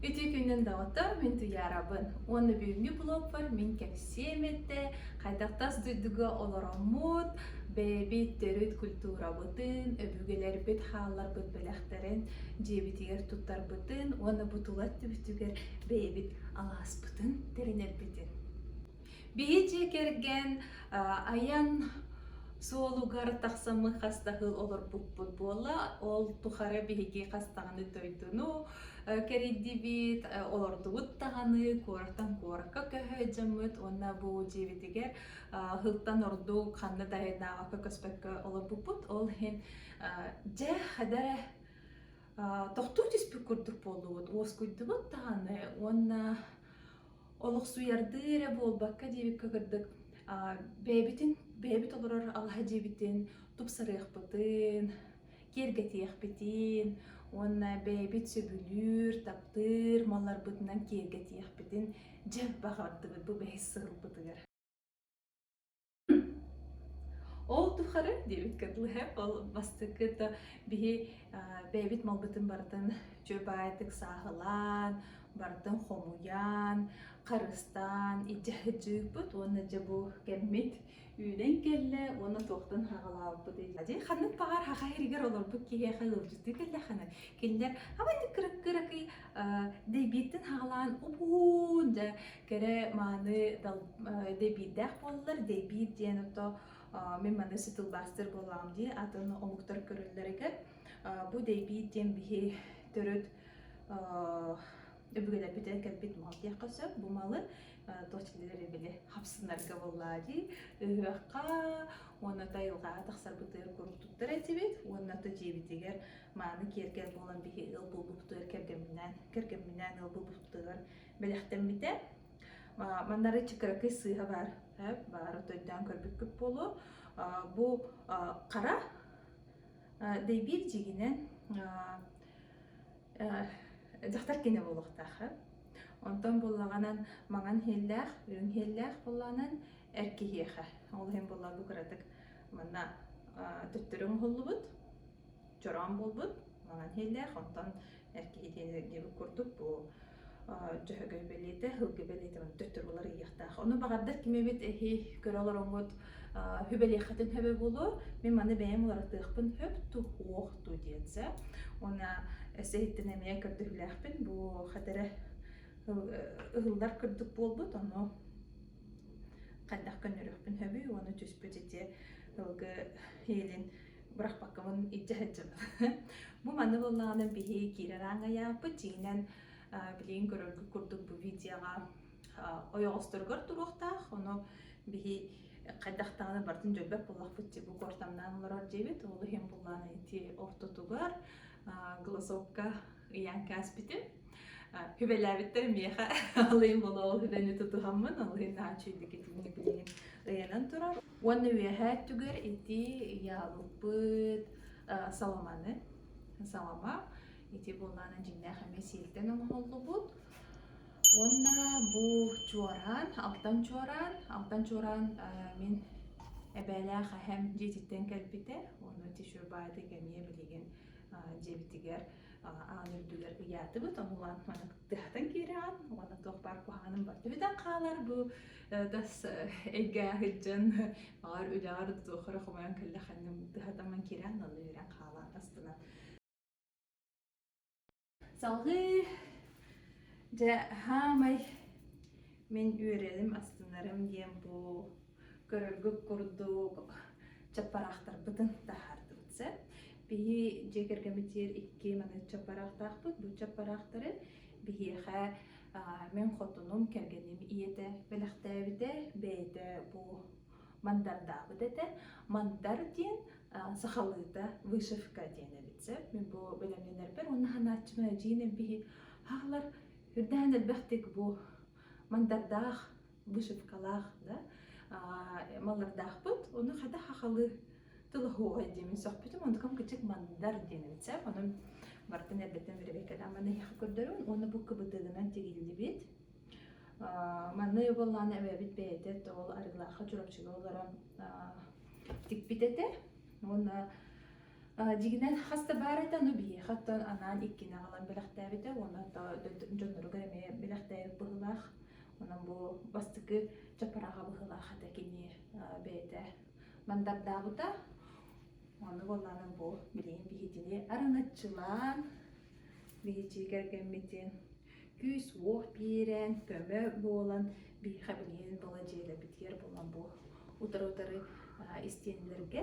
Ити күнүн доҕоттор, мин Туйаарабын. Уонна бүгүҥҥү блогпар мин кэпсиэм эттэ, хайдах тас дойдуга олороммут, бэйэбит төрүт культурабытын, өбүгэлэрбит хаалларбыт бэлэхтэрин дьиэбитигэр туттарбытын уонна бу тула өттүбүтүгэр бэйэбит алааспытын тэринэрбитин. Биһи дьиэ кэргэн айан суолугар тахсаммы хастаһыл олорбуппут буолла. Ол тухары биһиги хастаҕыны дойдуну кэрийдибит, олордубут даҕаны куораттан куоракка көһөөдьөммүт уонна бу дьиэбитигэр ыһылтан ордук ханна да айдаабакка көспөккө олорбуппут. Ол иһин дьэ да тохтуу түспүт курдук буоллубут, уоскуйдубут даҕаны уонна олохсуйардыы эрэ буолбакка диэбиккэ курдук бэйэбитин бэйэбит олорор алаһа дьиэбитин тупсарыахпытын киэргэтиэхпитин уонна бэйэбит сөбүлүүр таптыыр малларбытынан киэргэтиэхпитин дьэ баҕардыбыт бу бэһис сылбытыгар Ол тухары диэбит кытылыһыах ол бастакы да биһи бэйэбит малбытын барытын дьурбаайытык сааһылаан, барытын хомуйан, харыстаан илдьэ сылдьыыппыт уонна дьэ бу кэммит үүнэн кэллэ уонна туохтан саҕалаабыппыт ия дии ханнык баҕар саха сиригэр олорбут киһиэхэ ыалдьыттыы кэллэххинэ кинилэр абайдык кыракый-кыракый дэйбииртэн саҕалаан убуун дьэ кэрэ мааны дэбиирдээх буоллар дэбиир диэн ото мин манысы тылбаастар буоллаҕым дии атын омуктар көрөллөрүгэр бу дэбиир диэн биһи төрүт өбүгэлэрбитэ кэлбит мал диэххэ сөп бу малы дочилери били хапсынарга боллаа дии ыһыахха уонна тайылҕаҕа тахсарбытыгар курдуктар этибит уонна то дьиэбитигэр мааны киэргэл буолан биһи ыл булбуттугар кэргэмминээн кэргэмминээн ыл булбуттугар бэлэхтэммитэ маннары чыкыракый сыыһа баар баары тойдаан көрбүккүт буолуо бу хара дэйбиир дьигинэн дьахтар кенэ буолуохтаах онтон буллаҕанан маҥан һиэллээх үрүҥ һиэллээх буллаҕанан эр киһиэхэ ол иһин буллар бу кыратык манна төттөрү оҥоһуллубут чороон буолбут маҥан һиэллээх онтон эр киһи диэн эргиэбит курдук бу дьөһөгөй бэлиэтэ, һылгы бэлиэтэ маны төттөрү булар ыйыахтаах. Ону баҕардар кимэбит эһи көрө олороҥҥут хүбэлиэххитин хөбө буолуо. Мин маны бэйэм уларытыахпын хөп ту уох ту диэнсэ. Уна эсэһиттен эмиэ көрдөһүүлээхпин бу хэтэрэ ыһыллар курдук буолбут, ону хайдах көннөрүөхпүн хөбүй, уону түспүт ити ылгы иэлин бырахпаккабын илдьэ сылдьыбыт бу манна буоллаҕына биһи киирэр ааҥ айааппыт дьиҥинэн билигин көрөргүт курдук бу видеоҕа ойоҕосторугар туруохтаах ону биһи хайдахтаҕына барытын дьөлбөт буллахпыт дии бу куортамнаан олорор диэбит ол иһин буллаан ити ортотугар голосовка ыйаан кээспитим Хүбэлээбиттэр миэхэ алыйын болоол хүдэни тутуһаммын алыйын наачыйдык итинник билигин ыйанан турар Уонна үөһээ өттүгэр ити яалыппыт э, соломаны, солома, ити буолаан дьиннээх эмэ сиэлтэн оҥоһуллубут. Уонна бу чуораан, алтан чуораан, алтан чуораан э, мин эбээлээх эһэм дьиэтиттэн кэлбитэ. Уонна ити шурбааты эмиэ билигин дьиэбитигэр аан үрдүгэр ыйаатыбыт. Онулаан маны тыһатан киирэҕин. Уонна туох баар куһаҕаным бар. Төһүтэн хаалар бу тас эйгэ сылдьан баҕар үлэҕэр туох эрэ хомойон кэллэххинэ тыһатаман киирэн налыыран хаалан аспынан салгыы дьэ хаамай мин үөрэлим астынарым диэн бу көрөргүт курдук чаппараахтарбытын таһаардым сөп биһи дьиэ кэргэммитигэр икки маныт чаппараахтаахпыт бу чаппараахтары биһиэхэ Мин хотунум, кэргэним ийэтэ бэлэхтээбитэ, бэйэтэ бу мандардаабыт этэ. Мандар диэн сахалыыта вышивка диэн эбит сөп. Мин бу бэлэмнэнэрбэр уонна ханааччыма эдьиийин эмпиһи хаалар үрдээн элбэхтик бу мандардаах вышивкалаах да маллардаахпыт ону хата хахалы тылаһуоҕай диэмин сөхпүтүм онтукам кычык мандар диэн эбит сеп онон бартын эрдэттэн бэрэбэйкэлээммин эйиэхэ көрдөрүм уонна бу кыбытыгынан тигиллибит манна йобыллаана эбэбит бэйэтэ тоол арыылаахха чурапчыга олорон тикпит этэ уонна Дьигинэн хас да баар этэ, ну биһиэхэ оттон анаан иккини аҕалан бэлэхтээбитэ уонна дьонноругар эмиэ бэлэхтээбит быһыылаах. Онон бу бастакы чапарааҕа быһыылаах этэ кини бэйэтэ мандардаабыта. Ону буоллаанан бу билигин биһитини араҥаччылаан биһичии кэргэммитин күүс-уох биэрэн, көмө буолан биһиэхэ билигин быладьыайдабытыгар булан бу утары-утары истиэннэргэ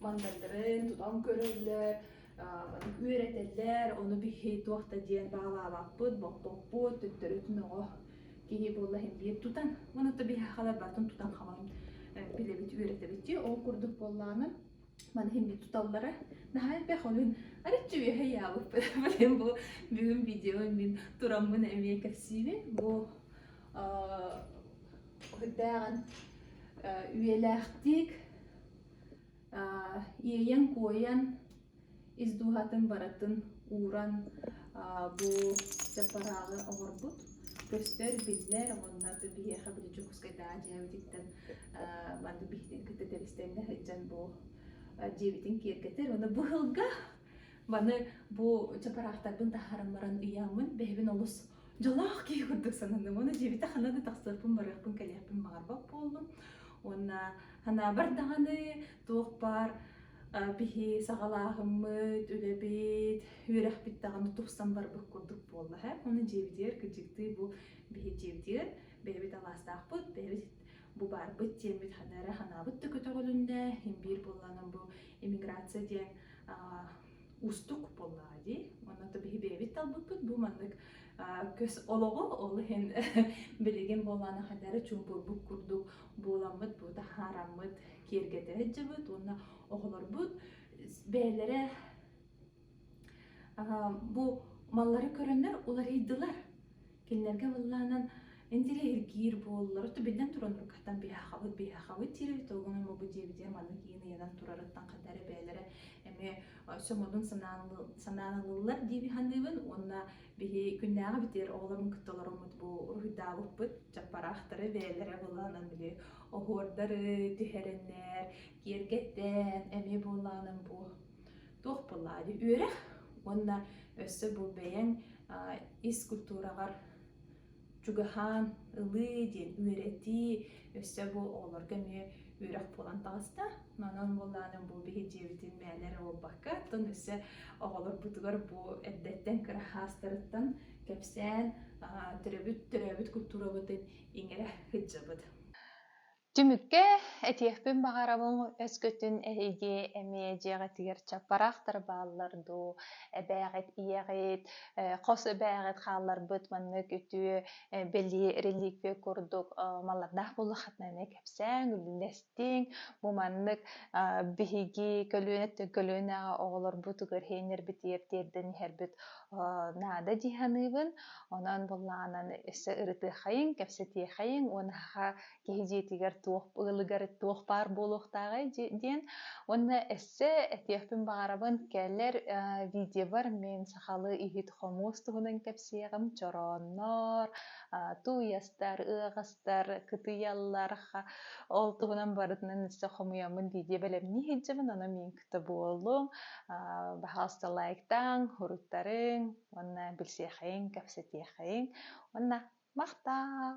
мандаттарын тутан көрөллөр, маннык үөрэтэллэр, ону биһи туох да диэн баалаабаппыт, боппоппут, төттөрүтүн оҕо киһи буолла иһин биир тутан, манатта биһахалар бартын тутан хамаҕын билэбит, үөрэтэбитти, ол курдук буоллааны, маны химбит туталлара, наһаа элбэх ойун, арыччы үөһэ яабыппыт, блин, бу бүгүн видео мин тураммын эмиэ кэпсиибин, бу дээҕин үйэлээхтик Иэйэн-куойан ис дууһатын барытын ууран бу дьаппарааҕы оҥорбут. Көстөр, биллэр, онно да биһиэхэ били Дьокуускайдааҕы дьиэбититтэн маннык биһитин кытта тэбистэннэ сылдьан бу дьиэбитин киэргэтэр. Уонна бу ыһылга Маны бу чапараахтарбын таһааран баран ыйааммын, бэһэбин олус дьолоох киһи курдук сананным. Оны дьиэбитэ хана да тахсыарпын, барыахпын, кэлиэхпин баҕарбат буоллум. Уонна ханаабар даҕаны туох баар биһи саҕалааһыммыт, үлэбит, үөрэхпит даҕаны тупсан барбыт курдук буолла. Ону дьиэбитигэр кыдьыктыы бу биһи дьиэбитигэр бэйэбит алаастаахпыт, бэйэбит бу баарбыт диэммит ханна эрэ ханаабыт да көтөҕүлүннэ имбиир буоллаҕынан бу иммиграция диэн уустук буоллаҕа дии онно то биһи бэйэбит талбыппыт бу маннык көс олоҕу ол иһин билигин буоллаҕына ханна эрэ чуумпурбут курдук буоламмыт бу таһаараммыт киэргэтэ сылдьыбыт уонна оҕолорбут бэйэлэрэ Бу маллары көрөннөр уларыйдылар. Кинилэргэ быллаанан интеллигиир буоллар, то биллэн туран ургаттан биһахабыт биһахабыт диэри туогунуй мобу диэбитигэр маннык иин ыйанан турарыттан хатары бэйэлэрэ эмиэ сомодун санаанылыллар диэби саныыбын уонна биһи күннээҕи битэр оҕолорун кытта олороммут бу уруһуйдаабыппыт чаппараахтары бэйэлэрэ былаанан били оһуордары түһэрэннэр киэргэттэн эмиэ буоллаанын бу туох былаады үөрэх уонна өссө бу бэйэҥ ис культураҕар чугаһаан ылыы диэн үөрэтии өссө бу оҕолорго эмиэ үөрэх буолан таҕыста онон буоллаанын бу биһи дьиэбитин мээнэ эрэ буолбакка оттон өссө оҕолорбутугар бу эрдэттэн кыра хаастарыттан кэпсээн төрөбүт төрөөбүт культурабытын иҥэрэ сылдьабыт Түмүккэ этиэхпин баҕарабын өскөтүн эһиги эмиэ дьиэҕитигэр чаппараахтар бааллар дуу, эбээҕит, ийэҕит, э, хос эбээҕит хаалларбыт маннык үтүө э, бэлиэ реликвия курдук э, маллардаах буоллаххытына эмиэ кэпсээҥ, үлэлэстиҥ. Бу маннык э, биһиги көлүөнэ көлүөнэҕэ оҕолорбутугар иһэрбитигэр тиэрдэн иһэрбит э, наада дии саныыбын. Онон буллаҕынан өссө ырытыаххайыҥ, кэпсэтиэххайыҥ уонна киһи дьиэтигэр туох ылыгар туох баар буолуохтааҕай диэн уонна өссө этиэхпин баҕарабын кэлэр видеобар мен сахалы иһит хомуос туһунан кэпсиэҕим чорооннор тууйастар ыаҕастар кытыйаллар ол туһунан барытынан өссө хомуйаммын видео бэлэмнии сылдьабын ону мин кыта буоллум пожалуйста лайктаан хуруттарыҥ уонна билсиэхэйин кэпсэтиэхэйин уонна махтаал